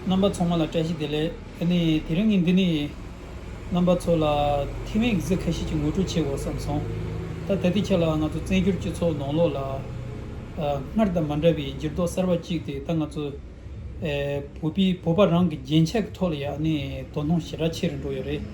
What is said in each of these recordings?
རྣམ་པ་ཚོགས་མ་ལ་བཀྲ་ཤིས་བདེ་ལེགས། དེ་ནི་དེ་རིང་ངས་འདི་ནས། རྣམ་པ་ཚོ་ལ་ཐེ་ཝན་གྱི་ཟིལ་ཁ་ཤས་ཀྱི་ངོ་སྤྲོད་བྱེད་དགོས་བསམ་སོང། ད་ལྟ་དེ་ཁྱེད་ལ་ང་ཚོ་བཙན་བྱོལ་སྤྱི་ཚོགས་ནང་ལོགས་ལ། སྔར་དང་མ་འདྲ་བའི་འགྱུར་ལྡོག་གསར་བ་གཅིག་དེ་ད་ང་ཚོའི། བོད་པའི་བོད་པ་རང་གི་རྒྱན་ཆ་གི་ཐོག་ལ་ཡང་ནི་དོ་སྣང་ཞེ་དྲག་ཆེ་རུ་འགྲོ་ཡོད་རེད།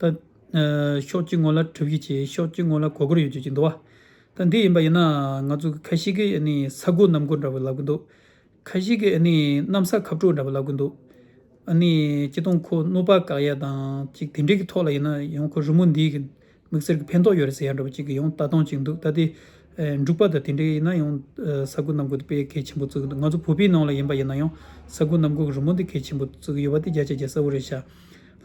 ད། ཤོག་ཅིག་ངོ་ལ་གྲུབ་གྱིས་བྱས་ཤོག་ཅིག་ངོ་ལ་གོ་གོར་ཡོད་བྱོས་ཀྱི་འདུག་བ། ད་འདི་ཡིན་པ་ཡིན་ན་ང་ཚོ་གི་ཁ་ཤི་ཀའི་ས་རྒོད་གནམ་རྒོད་འདྲ་བོ་ལབ་གི་འདུག། ཁ་ཤི་ཀའི་གནམ་ས་ཁབ་གྲོག་འདྲ་བོ་ལབ་གི་འདུག། ཅི་སྟོང་ཁོ་གནོད་པ་དགག་ཡ་དང་ཅིག་དེ་འདྲའི་གི་ཐོག་ལ་ཡིན་ན་ཡང་ཁོ་རི་མོ་འདིའི་གི་མིག་སེར་གི་ཕན་ཐོག་ཡོད་རེད་ཟེར་ཡ་འདྲ་བོ་ཅིག་གི་ཡང་ལྟ་སྟངས་ཅིག་འདུག་ད་དེ། འབྲུག་པ་དང་དེ་འདྲའི་ཡིན་ན་ཡང་ས་རྒོད་གནམ་རྒོད་དེ་དཔེ་གལ་ཆེན་པོ་བརྩི་གི་འདུག་ང་ཚོ་བོད་པའི་ནང་ལ་ཡིན་པ་ཡིན་ན་ཡང་ས་རྒོད་གནམ་རྒོད་གི་རི་མོ་འདི་གལ་ཆེན་པོ་བརྩི་གི་ཡོད་པ་དེ་རྒྱ་ཆ་རྒྱ་གསལ་བོ་རེད་ཤག་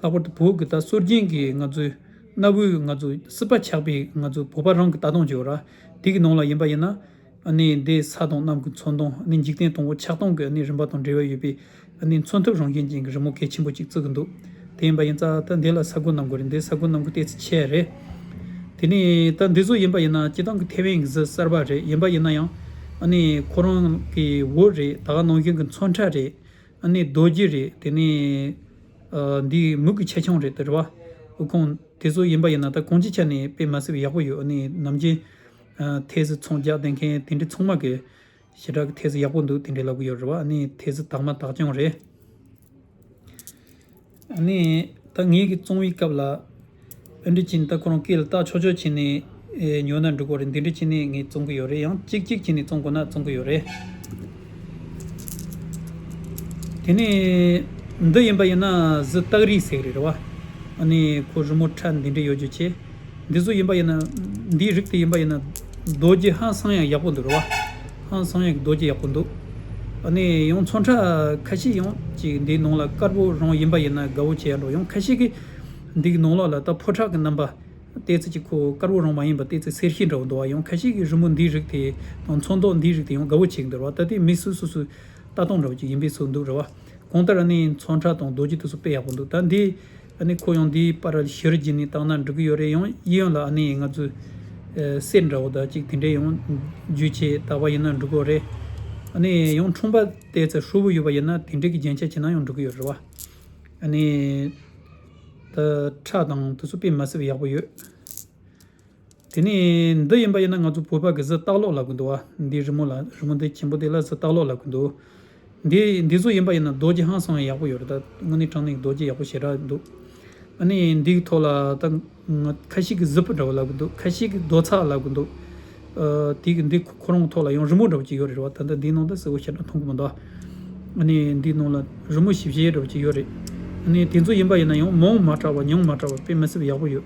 ལྷག་པར་དུ་བོད་གི་ད་གསོལ་རྒྱན་གྱི་ང་ཚོའི་གནའ་བོའི་ང་ཚོ་སྲིད་པ་ཆགས་པའི་ང་ཚོའི་བོད་པ་རང་གི་ད་དུང་ཇོ་ར་དེ་གི་ནང་ལ་ཡིན་པ་ཡིན་ན་འདའི་ས་དང་གནམ་གྱི་མཚོན་དང་འདའི་འཇིག་རྟེན་དང་པོ་ཆགས་སྟངས་ཀྱི་རིམ་པ་དང་འབྲེལ་བ་ཡོད་པའི་མཚོན་ཐབས་རང་བཞིན་ཅན་གྱི་རི་མོ་གལ་ཆེན་པོ་གཅིག་བརྩི་གི་འདུག་དེ་ཡིན་པ་ཡིན་ཙང་ད་འདའི་ལ་ས་གོ་གནམ་གོ་རེད་འདའི་ས་གོ་གནམ་གོ་བལྟས་ཚེ་ཆད་རེད། དེ་ནས་ད་འདི་ཚོ་ཡིན་པ་ཡིན་ན་སྤྱི་བཏང་གི་ཐེ་ཝན་གྱི་གཟི་གསར་པ་རེད་ཡིན་པ་ཡིན་ན་ཡང་ཁོ་རང་གི་འོད་རེད་ད་ག་ནང་བཞིན་གྱི་མཚོན་ཁྲ་རེད། ཨ་ནི་རྡོ་རྗེ་རེད་དེ་ནས། འདི་མུག་གི་ཆ་ཆུང་རེད་ཟེར་བ། དབུལ་ཁང་དེ་ཚོ་ཡིན་པ་ཡིན་ན་ད་གོང་སྤྱི་ཆ་ནས་དཔེ་མ་བསྲེས་པ་ཡག་པོ་ཡོད་ཨ་ནི་ནམ་རྒྱུན། ཐེལ་ཟི་ཚོང་རྒྱག་བསྡད་མཁན་དེ་འདྲའི་ཚོང་མ་གི། ཞེ་དྲག་གི་ཐེལ་ཟི་ཡག་པོ་འདུག་དེ་འདྲའི་ལབ་གི་ཡོད་རེད་བ་ཨ་ནི་ཐེལ་ཟི་དག་མ་དག་ཀྱང་རེད། ངས་ད་ངེད་ཀྱི་བཙོང་བའི་སྐབས་ལ། དཔོན་རི་ཅན་ད་ཁོ་རང་སྐད་ལ་ལྟ་ཆོག་ཆོག་བྱས་ནས་ཉོ་ན་འགྲིག་པ་རེད་འདི་འདྲ་བྱས་ནས་ངས་བཙོང་གི་ཡོད་རེད་ཡང་ཅིག་ཅིག་བྱས་ནས་བཙོང་དགོས་ན་བཙོང་གི་ཡོད་རེད། དེ་ནས་འདི་ཡིན་པ་ཡིན་ན་གཟི་སྟག་རིའི་ཟེགས་རེད་རེད་བ། ཨ་ནི་ཁོ་རི་མོ་ཁྲ་འདི་འདྲ་ཡོད་རྒྱུ་བྱས། འདི་ཟོ་ཡིན་པ་ཡིན་ན་འདིའི་རིགས་དེ་ཡིན་པ་ཡིན་ན། རྡོ་རྗེ་ཧང་སང་ཡང་ཡག་པོ་འདུག་རེད་བ། ཧང་སང་ཡག་རྡོ་རྗེ་ཡག་པོ་འདུག་ཨ་ནི་ཡང་ཚོང་ཁྲ་ཁ་ཤས་ཡང་ཅིག་འདིའི་ནང་ལ་དཀར་པོ་རང་ཡིན་པ་ཡིན་ན་དགའ་བོ་བྱས་ལོ་ཡང་ཁ་ཤས་ཀི་འདིག་ནང་ལོག་ལ་ད་ཕོ་ཁྲག་གི་རྣམ་པ་ལྟས་ཚེ་ཅིག་ཁོ་དཀར་པོ་རང་མ་ཡིན་པ་ལྟས་ཚེ་སེར་ཤེས་འདྲ་བོ་འདུག་བ་ཡང་ཁ་ཤས་ཀི་རི་མོ་འདིའི་རིགས་དེ་དང་ཚོང་མདོག་འདིའི་རིགས་དེ་ཡང་དགའ་བོ་བྱས་ཀི་འདུག་ར་བ་ད་ལྟའི་མི་སུ་སུ་སུ་ལྟ་སྟངས་འདྲ་བོ་ཅིག་ཡིན་པའི་ཚོད་འདུག་ར་བ་གང་ལྟར་ཨ་ནི་ཚོང་ཁྲ་དང་རྡོ་རྗེ་དུ་སུ་དཔེ་ཡག་པོ་འདུག་ད་འདི་ཨ་ནི་ཁོ་ཡང་འདིའི་པར་གཞིར་བགྱིས་ནས་བཏང་ན་འགྲིག་གི་ཡོད་རེད་ཡང་ཡི་ཡོད་ལ་ཨ་ནི་ང་ཚོའི་སྲས་འདྲ་བོ་དག་ཅིག་དེ་འདྲས་ཡང་རྒྱུས་ཆེ་དག་པ་ཡིན་ན་འགྲིག་གི་རེད། ཨ་ནི་ཡང་འཁྲུངས་པ་དེ་ཚེ་ཧྲུལ་བོ་ཡོད་པ་ཡིན་ན་དེ་འདྲས་ཀྱི་རྒྱན་ཆ་བྱས་ན་ཡང་འགྲིག་གི་ཡོད་རེད་བ། ཨ་ནི། ད་ཁྲག་དང་དུ་སུ་སྤེ་མ་སྲིད་པ་ཡག་པོ་ཡོད། དེ་ནས་འདི་ཡིན་པ་ཡིན་ན་ང་ཚོ་བོད་པ་གི་གཟི་རྟགས་ལོག་ལ་གུ་འདུག་བ། འདི་རི་མོ་ལ་རི་མོ་འདི་ཁྱིམ་པོ་དེ་ལ་གཟི་རྟགས་ལོག་ལ་གུ་འདུག། འདི་འདི་ཚོ་ཡིན་པ་ཡིན་ན་རྡོ་རྗེ་ཧང་སང་ཡག་པོ་ཡོད་རེད་ད། དངོས་གནས་དྲང་གནས་ཀྱི་རྡོ་རྗེ་ཡག་པོ་ཞེ་དྲག་འདུག། ཨ་ནི་འདི་གི་ཐོག་ལ་ད་ཁ་ཤིག་གི་གཟི་ཕུ་འདྲ་བ་ལ་གུ་འདུག་ཁ་ཤིག་གི་རྡོ་ཚག་ལ་གུ་འདུག། དེ་གི་འདི་ཁོ་རང་གི་ཐོག་ལ་ཡང་རི་མོ་འདྲ་བ་ཅིག་ཡོད་རེད་བ་ད་ལྟ་འདིའི་ནང་ད་གཟི་བོ་ཞེ་དྲག་མཐོང་གི་མི་འདུག་བ། ཨ་ནི་འདིའི་ནང་ལ་རི་མོ་ཞིབ་གཞལ་ཡས་འདྲ་བ་ཅིག་ཡོད་རེད། ཨ་ནི་དེ་ཚོ་ཡིན་པ་ཡིན་ན་ཡང་མོང་མ་དྲག་བ་ཉུང་མ་དྲག་བ་དཔེ་མི་སྲིད་པ་ཡག་པོ་ཡོད།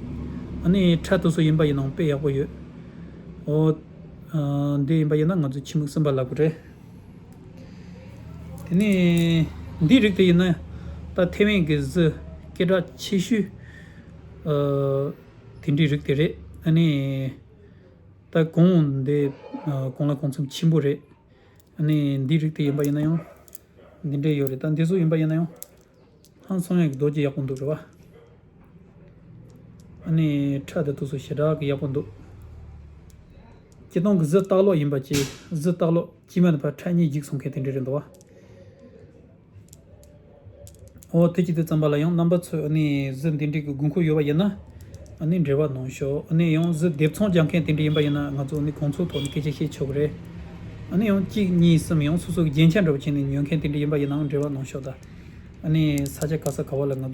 ཨ་ནི་འཕྲལ་དུ་སུ་ཡིན་པ་ཡིན་ནང་དཔེ་ཡག་པོ་ཡོད། ཨོ། འདི་ཡིན་པ་ཡིན་ན་ང་ཚོའི་ཁྱི་མིག་སེམས་པ་ལགས་པ་རེད། དེ་ནས་འདི་རིགས་དེ་ཡིན་ན་ད་ཐེ་ཝན་གྱི་གཟི་སྐད་གྲགས་ཆེ་ཤོས་དེ་འདྲའི་རིགས་དེ་རེད། ཨ་ནི། ད་གོང་འདི་གོང་ལ་གོང་འཚམས་ཆེན་པོ་རེད། ཨ་ནི་འདི་རིགས་དེ་ཡིན་པ་ཡིན་ན་ཡང་འདི་འདྲའི་ཡོད་རེད་ད་འདི་ཟུག་ཡིན་པ་ཡིན་ན་ཡང། ཧང་སང་ཡག་རྡོ་རྗེ་ཡག་པོ་འདུག་རེད་བ། ཨ་ནེ་ཁྲ་དེ་ཐུགས་སུ་ཞེ་དྲག་གི་ཡག་པོ་འདུག། སྐྱིད་སྡོང་གི་གཟི་རྟག་ལོག་ཡིན་པ་གཅེས་གཟི་རྟག་ལོག་སྐྱིད་མ་ནི་བར་ཁྲ་གཉིས་འགྱིག་བཟོ་མཁན་དེ་འདྲ་རེད་འདུག་བ། ཨོ་ཐུགས་སྐྱིད་དེ་རྩམ་པ་ལ་ཡང་རྣམ་པ་ཚོས་ཨ་ནེ་གཟི་འདི་འདྲིག་གི་དགོས་མཁོ་ཡོད་བ་ཡིན་ན། ཨ་ནི་འབྲེལ་བ་གནང་ཤོག་ཨ་ནི་ཡང་གཟུགས་འདེབས་ཚོང་རྒྱག་མཁན་དེ་འདྲ་ཡིན་པ་ཡིན་ན་ང་ཚོ་ནི་གོང་ཚོགས་ཐོག་ནས་སྐད་ཆ་བཤད་ཆོག་གི་རེད། ཨ་ནི་ཡང་གཅིག་གཉིས་གསུམ་ཡང་སོ་སོ་གི་རྒྱན་ཆ་འདྲ་བོ་བྱས་ནས་ཉོ་མཁན་དེ་འདྲ་ཡིན་པ་ཡིན་ནའང་འབྲེལ་བ་གནང་ཤོག་ད། ཨ་ནི་ས་ཆ་ག་ས་ག་བ་ལ་ང་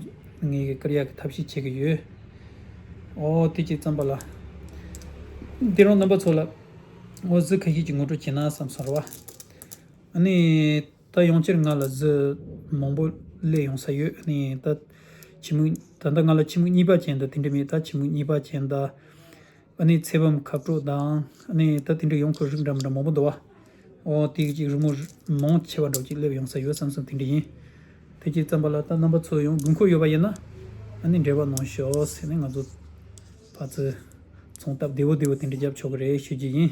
ངེད་ཀྱི་ཀར་ཡག་གི་ཐབས་ཤེས་བྱེད་ཀྱི་ཡོད། ཨོ་དེ་གཅིག་བརྩམས་པ་ལ། འདི་རང་རྣམ་པ་ཚོ་ལ་ཨོ་གཟུགས་ཁ་ཤས་ཀྱིས་ངོ་སྤྲོད་བྱས་ན་བསམ་སོང་རེད་བ། ཨ་ནི། ད་ཡོང་ཕྱིར་ང་ལ་གཟི་མང་པོ་གླས་ཡོང་ས་ཡོད་ནི་ད། ཁྱི་མུག་ད་ལྟ་ང་ལ་ཁྱི་མུག་གཉིས་པ་ཅན་དང་དེ་འདྲ་མེད་ད་ཁྱི་མུག་གཉིས་པ་ཅན་ད། ཨ་ནི་ཚེ་བམ་ཁ་དཀྲོག་དང་ཨ་ནི་ད་དེ་འདྲ་ཡོང་ཁུལ་རིགས་འདྲ་མི་འདྲ་མང་པོ་འདུག་བ། ཨོ་དེའི་ཅིག་རི་མོ་མང་ཆེ་བ་འདྲ་བོ་ཅིག་གླས་ཡོང་ས་ཡོད་བསམ་སོང་དེ་འདྲ་ཡིན། ཐེངས་གཅིག་བརྩམས་པ་ལ་ད་རྣམ་པ་ཚོ་ཡང་དགོས་མཁོ་ཡོད་པ་ཡིན་ན་ཨ་ནི་འབྲེལ་བ་གནང་ཤོག་ཟེར་ནས་ང་ཚོ་ཕ་ཚོས་ཚོང་སྟབས་བདེ་བོ་བདེ་བོ་དེ་འདྲ་བརྒྱབ་ཆོག་གི་རེད་ཤོད་ཀྱི་ཡིན།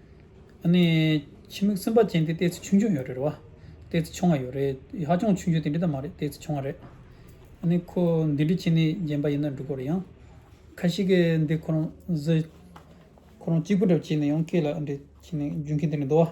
ཨ་ནི། ཁྱིམ་མིག་སེམས་པ་ཅན་དེ་ལྟས་ཚེ་ཆུང་ཆུང་ཡོད་རེད་བ། ལྟས་ཚེ་ཆུང་བ་ཡོད་རེད་ཧ་ཅང་ཆུང་ཆུང་དེ་འདྲི་ད་མ་རེད་ལྟས་ཚེ་ཆུང་བ་རེད། ཨ་ནི། ཁོ་འདི་འདྲི་བྱེད་ནི་རྗེན་པ་ཡིན་ན་འགྲིག་གོ་རེད་ཡང། ཁ་ཤི་ཀའི་འདི་ཁོ་རང་བཟི། ཁོ་རང་གཅིག་པུ་འདྲ་བྱེད་ནི་ཡང་སྐད་ལ་འདྲི་བྱེད་ནི་རྒྱུན་ཁྱི་འདི་འདྲི་འདུག་བ།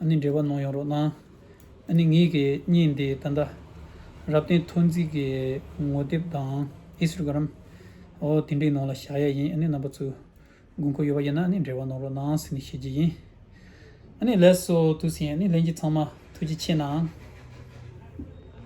ཨ་ནི་འབྲེལ་བ་གནང་ཡོང་རོགས་གནང། ཨ་ནི་ངེད་ཀྱི་གཉིས་འདི་ད་ལྟ། རབ་བརྟན་ཐོ་འཛིན་གྱི་ངོ་དེབ་དང Instagram། འོ་དེ་འདྲའི་ནང་ལ་བཞག་ཡ་ཡིན་ཨ་ནི་རྣམ་པ་ཚོས་དགོས་མཁོ་ཡོད་པ་ཡིན་ན་ཨ་ནི་འབྲེལ་བ་གནང་རོགས་གནང་ཟེར་ནས་བཤད་ཀྱི་ཡིན། ཨ་ནི་ལས་སོ་དུས་ཟིན་ཨ་ནི་ལན་གྱི་ཚང་མ་ཐུགས་རྗེ་ཆེ་གནང།